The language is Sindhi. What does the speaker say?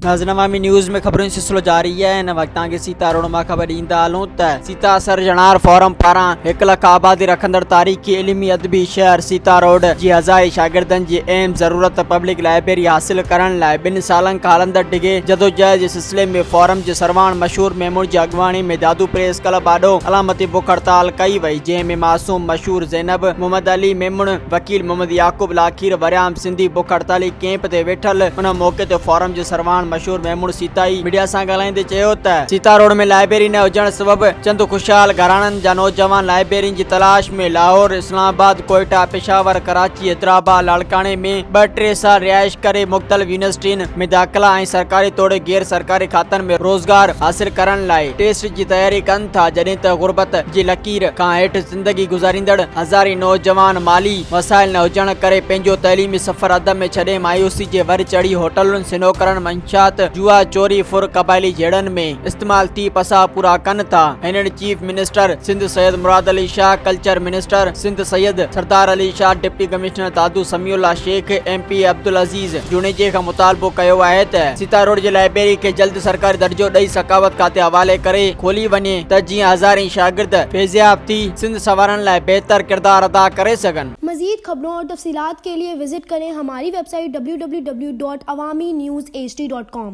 ناظرين عوامي نيوز ۾ خبرن جو سلسلو جاري آهي هن وقت توهان کي سيتا روڊ مان خبر ڏيندا هلون ته سيتا سر جنار فورم پاران هڪ لک آبادي رکندڙ تاريخي علمي ادبي شهر سيتا روڊ جي هزارين شاگردن جي اهم ضرورت پبلڪ لائبريري حاصل ڪرڻ لاء ٻن سالن کان هلندڙ ڊگهي جدوجهد جي سليم ۾ فورم جي سرواڻ مشهور ميمڻ جي اڳواڻي ۾ دادو پريس ڪلب آڏو علامتي بک هڙتال ڪئي وئي جنهن ۾ معصوم مشهور زينب محمد علي ميمڻ وڪيل محمد يعقوب لاکير وريام سنڌي بک هڙتالي ڪيمپ تي ويٺل ان موقعي تي فورم جي سرواڻ مشهور ميمڻ سيتائي ميڊيا سان ڳالهائيندي چيو ته سيتا روڊ ۾ لائبريري نه هجڻ سبب چند خوشحال گهراڻن جا نوجوان لائبريرين جي تلاش ۾ لاهور اسلام آباد ڪوئيٽا پشاور ڪراچي حيدرآباد لاڙڪاڻي ۾ ٻه ٽي سال رهائش ڪري مختلف يونيورسٽين ۾ داخلا ۽ سرڪاري توڙي غير سرڪاري کاتن ۾ روزگار حاصل ڪرڻ لاء ٽيسٽ جي تياري ڪن ٿا جڏهن ته غربت جي لڪير کان هيٺ زندگي گذاريندڙ هزارين نوجوان مالي وسائل نه هجڻ ڪري پنهنجو تعليمي سفر اڌ ۾ ڇڏي مايوسي جي ور چڙهي هوٽلن سنوڪرن منشيات جوا چوري ڦر قبائلي جهيڙن ۾ استعمال ٿي پساهه پورا ڪن ٿا هنن chief minister Sindh Syed Murad Ali Shah culture minister Sindh Syed Sardar Ali Shah deputy commissioner Dadu Samiullah Shaikh M P Abdulaziz Aziz جوڻيجي کان مطالبو ڪيو آهي ته سيتا روڊ جي لائبريري کي جلد سرڪاري درجو ڏئي ثقافت کاتي حوالي ڪري کولي وڃي ته جيئن هزارين شاگرد فيضياب ٿي سنڌ سنوارڻ لاء بهتر ڪردار ادا ڪري سگهن. مزيد خبرون اور تفصيلات کے ليے وزٽ ڪرين ھماري ويب سائيٽ www.awaminews.hd.com.